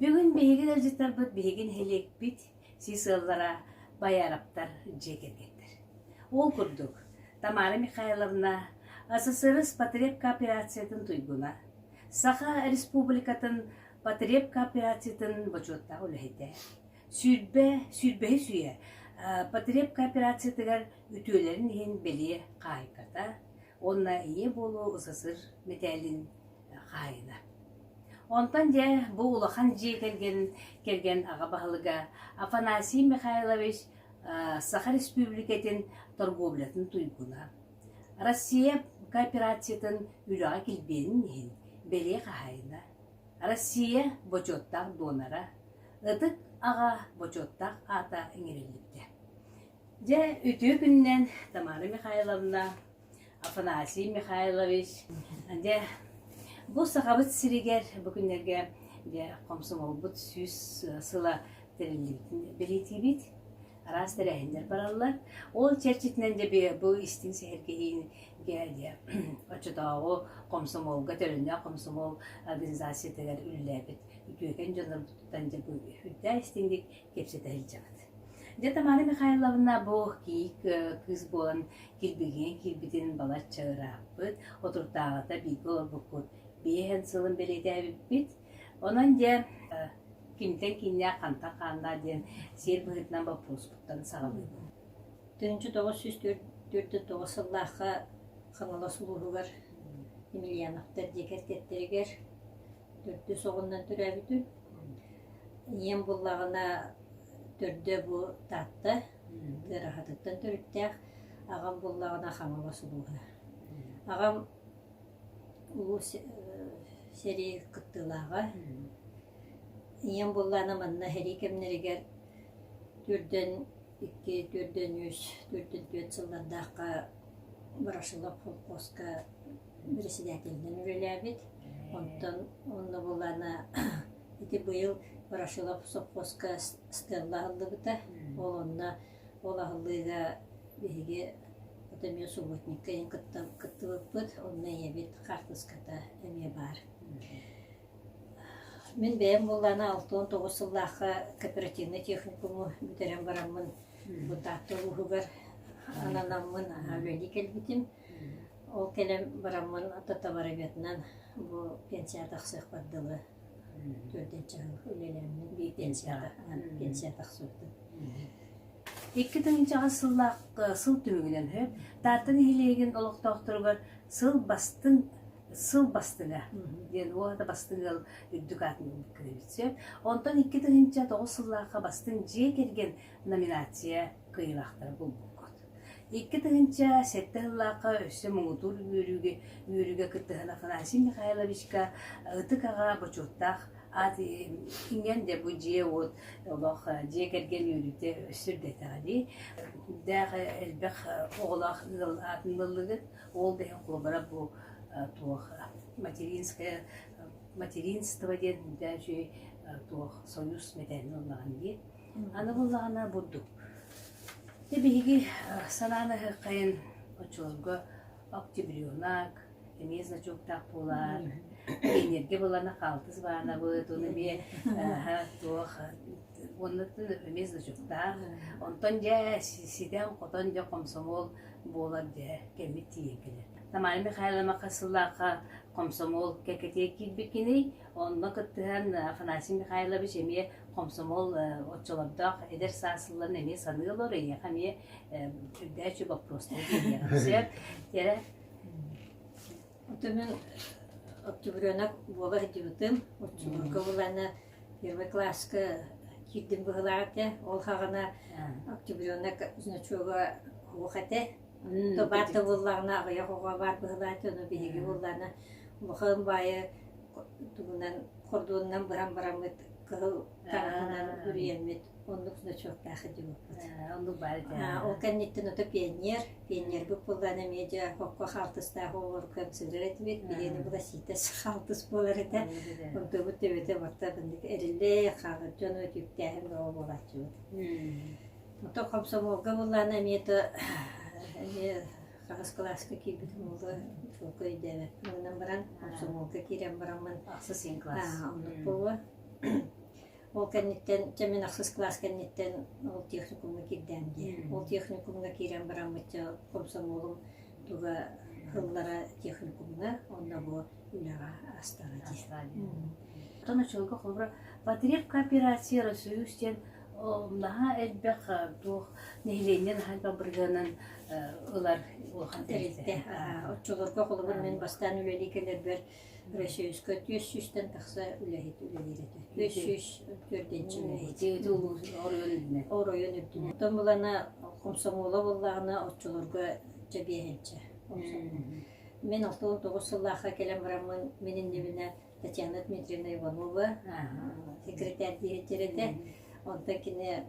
Бүгүн биһиги ыалдьыттарбыт биһиги нэһилиэкпит сис ыаллара Бояровтар дьиэ кэргэттэр. Ол курдук, Тамара Михайловна СССР потребкооперациятын туйгуна, Саха Республикатын потребкооперациятын бочуоттаах үлэһитэ, сүүрбэ, сүүрбэһис үйэ потребкооперациятыгар үтүөлэрин иһин бэлиэ хаһыйката уонна ийэ буолуу СССР мэтээлин хаайына. Онтон дьэ бу улахан дьиэ кэргэн кэргэн аҕа баһылыга Афанасий Михайлович Саха Республикатын торговлятын туйгуна, Россия кооперациятын үлэҕэ килбиэнин иһин бэлиэ хаһаайына, Россия бочуоттаах донора, ытык аҕа бочуоттаах аата иҥэриллибитэ. Дьэ, үтүө күнүнэн Тамара Михайловна Афанасий Михайлович, дьэ, бу Сахабыт сиригэр бу күннэргэ дьэ хомсомолбут сүүс сыла тэриллибитин бэлиэтиибит. Араас тэрээһиннэр бараллар. Ол чэрчитинэн дьэ бу истиҥ сэһэргэһиини дьэ оччотооҕу хомсомолга төлөннөөх хомсомол организациятыгар үлэлээбит үтүөкэн дьоннорбутуттан дьэ бу үрдээ истиҥник кэпсэтэ сылдьабыт. Дьэ Тамара Михайловна бу киик кыыс буолан кирбигинэ киирбитин балачча ырааппыт, отурдааҕыта бииргэ олорбуккут биэс эн сылын бэлиэтээбиппит. Онон дьэ киниттэн кииннээх хантан хааннаах диэн сиэр быһыытынан боппуруспуттан саҕалыыбын. Түнчү тоҕус сүүс төрт төрдө тоҕус сыллаахха Хаҥалас улууһугар Емельяновтар диэки эрдэттэригэр төрдүс оҕунан төрөөбүтүм. Ийэм буоллаҕына төрдө бу Таатта, ыарахатыттан төрүттээх. Аҕам буоллаҕына Хаҥалас улууһа. Аҕам улуу сэрии кыттыылааҕа. Ийэм буоллаҕына манна сэрии кэмнэригэр төрдөн икки, төрдөн үс, төрдөн түөрт сыллардаахха Ворошилов холкуоска председателинэн үлэлээбит. Онтон онно булан ити быйыл Ворошилов сопхуоска скалла аһыллыбыта. Ол онно ол аһыллыыга биһиги вот эмиэ субботникка ийэм кыттыбыппыт. Онно ийэбит хаартыската эмиэ баар. Мин бэйэм буллана алта уон тоҕус сыллаахха кооперативнай техникуму бүтэрэн бараммын бытаатта улууһугар ананаммын аһа үлэлии кэлбитим. Ол кэлэн бараммын атата барыгытынан бу пенсияҕа тахсыахпар дылы төрдүнчэҕин үлэлээммин биир пенсияҕа пенсия тахсыбытым. Икки тыһыынчаҕыс сыллаах сыл түмүгүнэн сөп Таатта нэһилиэгин олохтоохторугар сыл бастыҥ сыл бастыҥа диэн уота бастыҥ ыал үрдүк аатын кыайбыт сөп. Онтон икки тыһыынча тоҕус сыллаахха бастыҥ дьиэ кэргэн номинация кыайыылаахтара булбуккут. Икки тыһыынча сэттэ сыллаахха өссө муҥутуур үөрүүгэ үөрүүгэ кыттыһан Афанасий Михайловичка ытык аҕа бочуоттаах аат иҥэн дьэ бу дьиэ-уот олох дьиэ кэргэн үөрүүтэ өссө үрдэтэҕэ дии даах элбэх оҕолоох ыал аатын ыллыгыт уол да иһин куобара бу туох материнское материнство диэн да үчүгэй туох союз мэтээлин ыллаҕын дии Аны буоллаҕына бурдук. Ити биһиги санаан аһыаххайын оччолорго октябренок, эмиэ значоктаах буолаар, энергия буолана хаалтыс баанабыт, ону эмиэ туох уонна эмиэ значоктаах. Онтон дьэ ситэн-хотон дьэ хомсомуол буолар дьэ кэммит тиийэн кэлэр. Тамара Михайловна хас сыллаахха хомсомуол кэкэтиэ киирбиккиний? Онно кыттыһан Афанасий Михайлович эмиэ Хомсомол оччолордоох эдэр саас ылан эмиэ саныы олор, эйиэхэ эмиэ үрдээччи боппуруостары биэриэҕин сөп. Тиэрэ отунун октябренок буола сылдьыбытым, оччолорго буланы первый класска киирдим быһылаата, ол хаҕына октябренок значогу оһуох этэ, Тыл баар тыллыллаҕына аҕыйах оҕо баар быһылаан дьоно биһиги буоллаҕына улахан баайы тугунан хордуонунан быһан бараммыт кыһыл таҥаһынан үрүйэммит оннук значоктаах идиоппут. Оннук баар этэ. Ол кэнниттэн ото пионер, пионербыт буоллаҕына эмиэ дьэ хокко хаалтыстаах оҕолор концерт этибит, биһиэнэ быласиитас хаалтыс буолар этэ. Онтубут төбөтө баттан эриллэ хаалар дьоно түүптээһин бөҕө буолааччыбыт. Оттон хомсомуолга буоллаҕына эмиэ тыа эмиэ хаҕыс кылааска киирбитим буолуо чуолкай өйдөөбөппүн гынан баран хомсомуолга киирэн бараммын ахсыс син кылаас оннук буолуо ол кэнниттэн чэ мин ахсыс кылаас кэнниттэн ол техникумҥа киирдэм дии ол техникумҥа киирэн бараммычча хомсомуолум туга ыллара техникумҥа онно бу үлэҕэ астана дии. Оттон оччолорго холобура Потреб кооперациялар союз диэн наһаа элбэх туох нэһилиэнньэ наһаа бабыргынан ылар улахан тэрилтэ. Оччолорго холобур мен бастаан үлэлии кэлэрбэр Российска түөс сүүстэн тахса үлэһит үлэлиир этэ. Түөс сүүс төрденче үлэһит. Улуус оройун оройун үрдүнэн. Оттон булана комсомола буоллаҕына оччолорго дьэбиэһэнчэ. Мин оттон тоҕус сыллаахха кэлэн бараммын, мин иннибинэ Татьяна Дмитриевна Иванова секретарь диэхтэр этэ. Онтон кини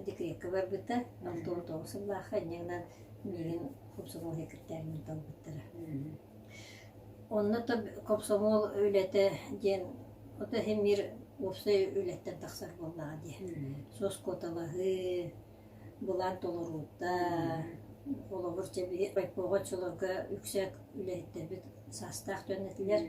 декретка барбыта. Оттон тоҕус сыллаахха инньэҕинэн миигин комсомол секретарынан талбыттара. Онно то комсомол үлэтэ диэн ото иһин биир уопсай үлэттэн тахсар буоллаҕа дии. Соскоталаһыы, Былаан толоруута, холобур, райкома оччолорго үксэ үлэһиттэрбит саастаах дьон этилэр,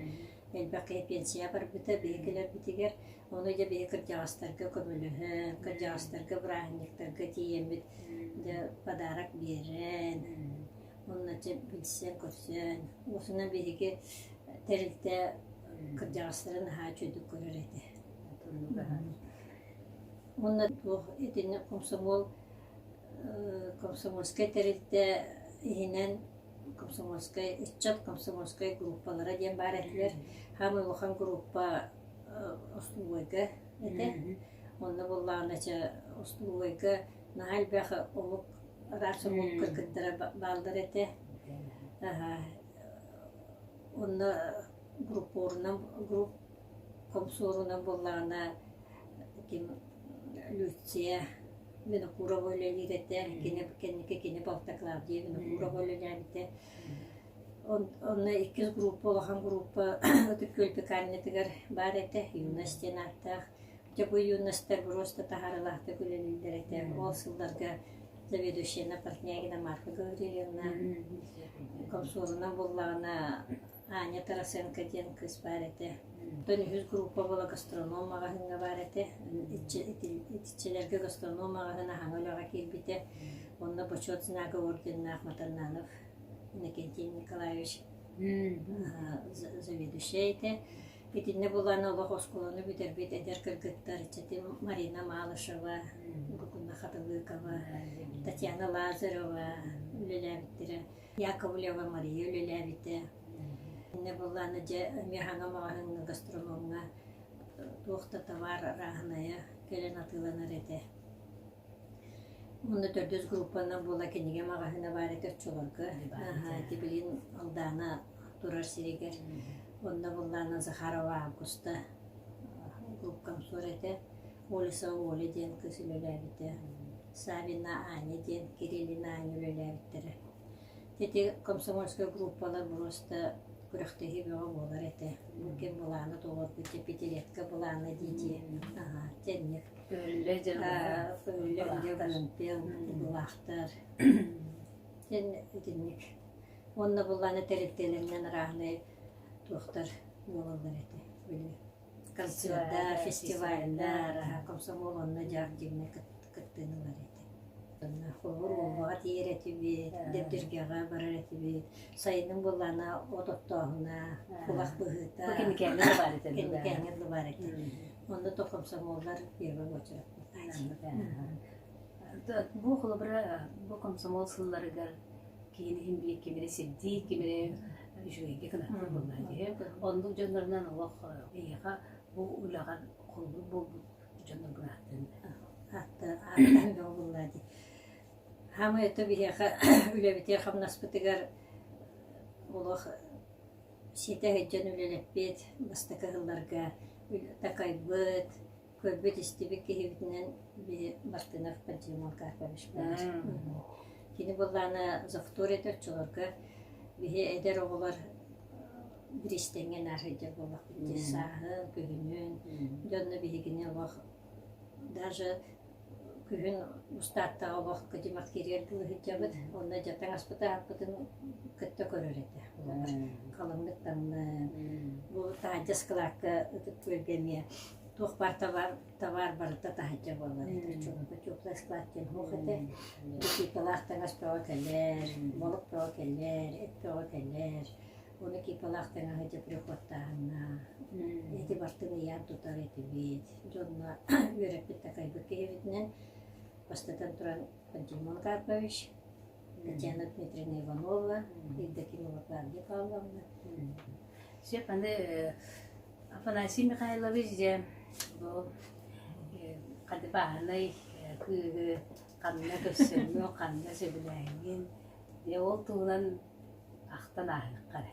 элбэххэ пенсия барбыта биһикилэрбитигэр. Ону дьэ биһи кырдьаҕастарга көмөлөһөн, кырдьаҕастарга бырааһынньыктарга тиийэммит дьэ подарок биэрэн, оннооччу билсэн-көрсөн, осунан биһиги тэрилтэ кырдьаҕастары наһаа үчүгэй көрөр этэ. уонна туох итинник комсомол комсомольскай тэрилтэ иһинэн комсомольскай ыччат комсомольскай группалара диэн баар этилэр хаамай улахан группа остуолуойга этэ онно буоллаҕына остуолуойга наһаа элбэх омук араас омук кыргыттара бааллар этэ онно группорунан групп Обсуоруна буоллаҕына ким Люция Винокурова үлэлиир этэ, кини кэнники кини балта Клавдия Винокурова үлэлээбитэ. Онно иккис группа улахан группа Ытык Күөлбү Каннятыгар баар этэ, юность диэн ааттаах. Дьэ бу юностар просто таһаарылаахтык үлэлииллэр этэ. Ол сылларга заведующайна Портнягина Марфа Гаврильевна, комсорунан буоллаҕына Аня Тарасенко диэн кыыс баар этэ. Оттон үһүс группа буола гастроном маҕаһыыҥҥа баар этэ. Итиччэлэргэ гастроном маҕаһыын аһаҥа үлэҕэ киирбитэ. Онно Бочуот знака орденнаах Матаннанов Иннокентий Николаевич заведующая этэ. Итиннэ булан олох оскуоланы бүтэрбит эдэр кыргыттар ыччаты Марина Малышева, Гугуна Хатылыкова, Татьяна Лазарева үлэлээбиттэрэ. Яковлева Мария үлэлээбитэ. Иннэ буоллаана дьэ Мехаҥа маҕаһыыҥҥа гастрономҥа туох да табаар арааһынайа кэлэн атыыланар этэ. Уонна төрдүс группанан буола кинигэ маҕаһыына баар этэ оччолорго. Ити билин Алдаана турар сиригэр. Онно буоллаана Захарова Августа группкамсуор этэ. Ольса Оля диэн кыыс үлэлээбитэ, Савина Аня диэн Кириллина Аня үлэлээбиттэрэ. Ити комсомольскай группалар просто күрэхтэһии бөҕө буолар этэ. Бу ким былаана толорбут дьэ Петеретка былаана дии аhaa тэнник. Өллө дьэ Өллө Олимпиан былаахтар. Тэн итинник. Уонна былаана тэрилтэлэринэн арааһынай туохтар буолаллар этэ. Били Концерда, фестивальдар, комсомол онно дьэ активнай кыттыылар этэ. Холобур, Уолбаҕа тиийэр этибит, Дэбдиргэҕэ барар этибит. Сайыным буоллаана от оттооһуна, кулак быһыыта. Бу кимикээннэр баар этэ дуу? Кимикээннэр баар этэ. Онно то комсомоллар первый очередь. Бу холобура бу комсомол сылларыгар киһини иһин билик кимири сирдиир, кимири үчүгэйдик гынарбыт буоллаҕа дии. Оннук дьоннорунан олох эйиэхэ бу үлэҕэр холлук буолбут дьоннор гынаатын ааттаан бөҕө буоллаҕа дии. Хаамай ото биһиэхэ үлэбитигэр-хамнаспытыгар олох ситэй сылдьан үлэлэппит бастакы сылларга такайбыт, Көрбүт-истибит киһибитинэн били Мартынов Пантелеймон Карпович буолар. Кини былаана Зохтор этэ оччолорго биһи эдэр оҕолор биристэҥҥэ нааһыйдар буоллахпыт дии сааһын, күһүнүн, дьонно биһигини олох даже күһүн устааттаах олохко димах кириэр дылы сылдьабыт. Онно дьэ таҥаспыта ааппытын кытта көрөр этэ буолар. Халыҥнык таҥны. Бу таанчас кылаакка ытыктыырга эмиэ туох баар табаар табаар барыта таһырдьа буолла диэтэр чуумпу теплый склад диэн суох этэ кипалаах таҥас бөҕө кэлэр молук бөҕө кэлэр эт бөҕө кэлэр уну кипалаах таҥаһы ити прихоттааһына ити бартын ыйаан тутар этибит дьонно үөрэппит такайбыт киһибитинэн бастатан туран пантелеймон карпович Татьяна Дмитриевна Иванова, Евдокия Лавгвардия Павловна. Все аны Афанасий Михайлович дьэ бу хадыбааһынай кыыһы ханна көрсөҥҥө, ханна сөбүлээһиҥҥин, дьэ ол туһунан ахтан ааһыахха эрэ.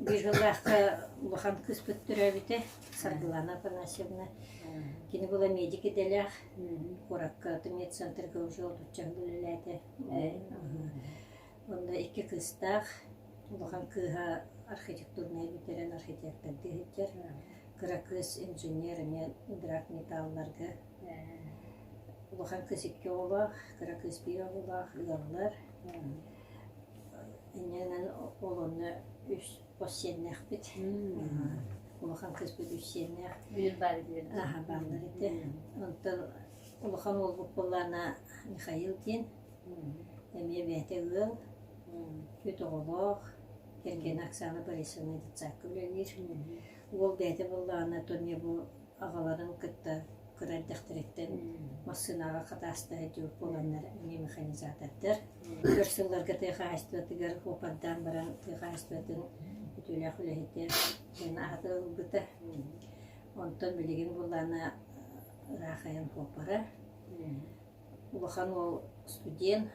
Быыһылаахха улахан кыыспыт төрөөбүтэ Саргылана Афанасьевна. Кини была медик идэлээх. Куоракка аты медцентрга уже отучча үлэлээтэ. Онно икки кыыстаах. Улахан кыыһа архитектурнай бүтэрэн архитектордыы сылдьар. Кыра кыыс инженер эмиэ ыдыраак металларга. Улахан кыыс икки оҕолоох, кыра кыыс биир оҕолоох ыаллар. Иннинэн ол онно үс хос сиэннээхпит. Улахан кыыспыт үс сиэннээх. Биир баар диэн. Аһа бааллар ити. Онтон улахан уолбут буоллаана Михаил диэн. Эмиэ бэйэтэ ыал. Үс оҕолоох. Кэргэнэ Оксана Борисовна детсадка үлэлиир. Уол бэйэтэ буоллаана Тоня бу аҕаларын кытта кыра эрдэхтэриттэн массыынаҕа хатаастаһы дьүр буоланнар эмиэ механизатордар өр сылларга тыа хаһаайыстыбатыгар уопардаан баран тыа хаһаайыстыбатын үтүөлээх үлэһитэ диэн ааты ылбыта онтон билигин буллаана ыраахайан куоппара улахан уол студент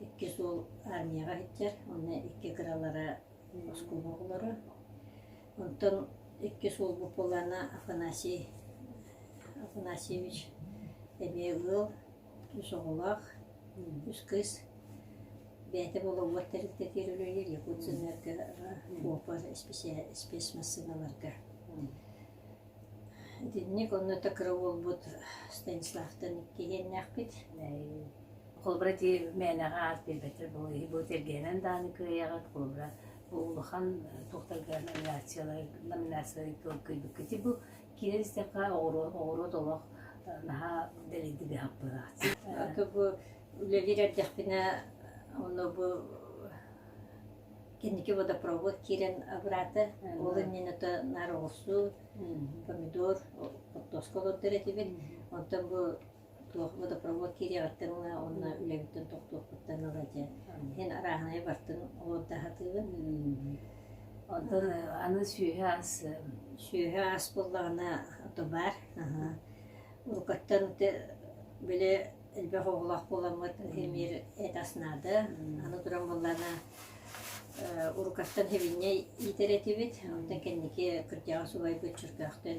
иккис уол армияҕа иһиттэр уонна икки кыралара оскуола оҕолоро Онтон икки суол буккуллаана Афанасий Афанасьевич эмиэ ыал, үс оҕолоох, үс кыыс. Бэйэтэ болуобуот тэрилтэтигэр үлэлиир, Якутсэнерго, Копор спецмассыыналарга. Итинник онно кыра уолбут Станиславтан иккиһиэннээхпит. Холобура ити мээнэҕэ аат биэрбэттэр буолуо. Бу тэлгээнэн даҕаны кыайаҕыт, холобура улахан туохтарга номинациялары номинациялары көрбүккүтүй бу киирэр истэххэ оҕуруот оҕуруот олох наһаа дэлэйдик ыһаппыта бу үлэлиир эрдэхпинэ ону бу кэнники водопровод киирэн обратно ол иннинэ то наар оҕурсуу помидор поддоска олордор этибит онтон бу туох водопровод киириэҕиттэн ыла уонна үлэбиттэн тохтуохпуттан ыла дьэ иһин арааһынайы бартын ол да сатыыбын онтон аны сүөһү ас сүөһү ас буоллаҕына ото баар уруккаттан били элбэх оҕолоох буоламмыт эмиэр эт ас наада аны туран буоллаҕына уруккаттан һэбинньэй иитэр этибит онтон кэнники кырдьаҕас убайбыт чөркөөхтөн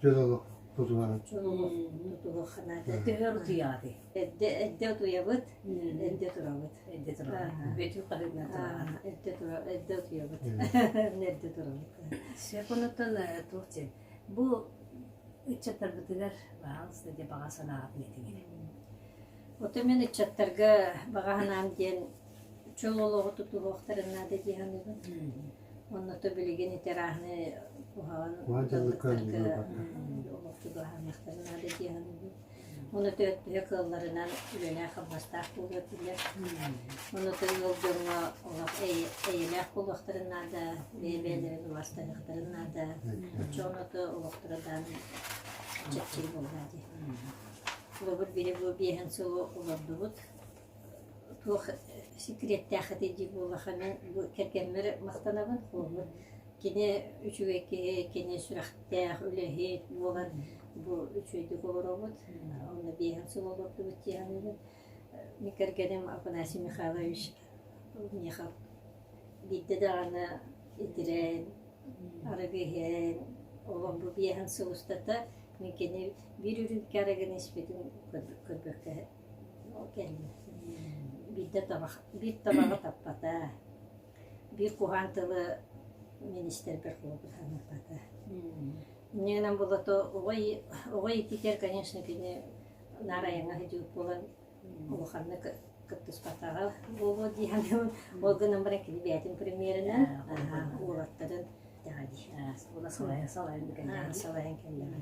Дьыл олох тутуһан. Төһө утуйаҕытый? Эрдэ эрдэ утуйабыт, эрдэ турабыт. Эрдэ турабыт. Бөтү хаһыҥа турабыт. Эрдэ тура эрдэ утуйабыт. Эрдэ турабыт. Секундтан туох диэн. Бу ыччаттарбытыгар баҕаҥыста диэн баҕа санааҕытын этиҥ. Ото мен ыччаттарга баҕа санаам диэн чөл олоҕу тутуһуохтарын наада дии саныыбын. Онното билигин ветераны уһаан ыалдыттарга олох чугаһаныахтара наада диэн Онута төһө кыалларынан үлэлээх-хамнастаах буолуо этилэр. Онута ыал дьоҥҥо олох эйэлээх буолуохтарын наада, бэйэ-бэйэлэрин убастаныахтарын наада. Оччо онута олохторо даан чэпчэки буоллаа дии. Олобут биһи бу биэһин сылы олордубут. туох секреттээх этэй дии буоллаххына бу кэргэммэр махтанабын холобур кини үчүгэй киһи кини сүрэхтээх үлэһит буолан бу үчүгэйдик олоробут онно биэһин сыл олордубут дии саныыбын мин кэргэним афанасий михайлович миха биирдэ даҕаны итирэн арыгы иһэн олох бу биэһин сыл устата мин кини биир үрүүмкэ арыгыны испитин көрбөккө Ол кэннэ биирдэ табах биир табаҕы таппата, биир куһаан тылы министрбэр холобурламмата. Иннигинэн булото оҕой оҕой ититэр, конечно, кини наар айаҥа сыдьыыт буолан улаханнык кыттыспатаҕа буолуо дии саныыбын. Ол гынан баран кини бэйэтин премьеринэн уолаттарын салайан кэллэҕэ.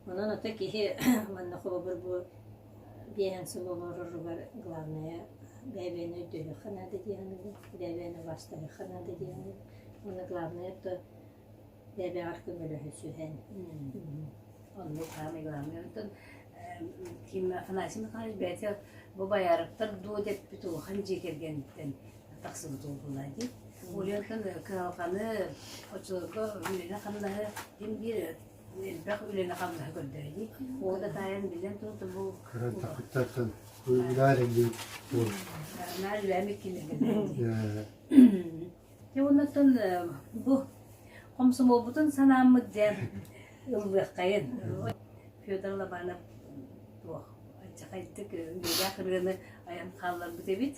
Онон ата киһи манна холобур бу биэһин сыл олороругар главное бэбиэни өйдүөххэ наада диэҕинэ, бэбиэни убаастаһыахха наада диэҕинэ, уонна главное то бэбэҕэр көмөлөһө сүһэн. Оннук саамай главное. Онтон Фима Афанасий Михайлович бэйэтэ бу боярыктар дуо деппит улахан дьиэ кэргэниттэн тахсыбыт буолла дии. Ульяттан кыһалҕаны, оччолорго үлэни-хамнаһы ким биир элбэх үлэни-хамнаһы көрдөрдүү. Ол да таайан билэн туруту бу Кыран такыттартан үлээрилли бул. Наар үлээмик килигин. Те оннаттан бу комсомолбутун санааммыт диэн ыллыаххайын. Федор Лобанов туох аччахайдык үлээх ырыаны аян хаалларбыт эбит.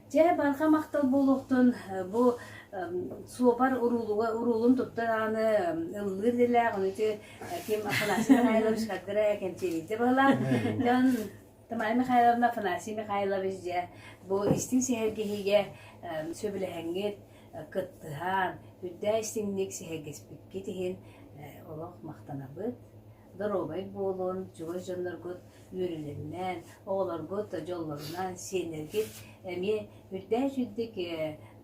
Чэ, барҕа махтал буолуохтун бу суопар уруулуга уруулун туттар ааны ыллыыр дилээх ону ким Афанасий Михайлович хардыра кэмчилиите бала дьон Тамай Михайловна Афанасий Михайлович дьэ бу истин сиһэргэһиге сөбүлэһэҥҥит кыттыһаан үрдээ истиҥник сиһэргэспиккит иһин олох махтанабыт доруобай буолун, чугас дьонноргут үөрүнүннэн, оҕолоргут дьоллорунан сиэннэргит эмиэ үрдээч үрдүк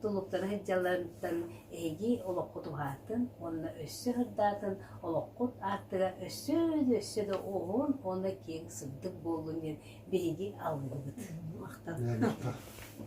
тулуктары сылдьалларыттан эһиги олоххут уһаатын уонна өссө сырдаатын, олоххут ааттыга өссө да өссө да уһун уонна киэҥ сырдык буоллун диэн биһиги алгыбыт. Махтал.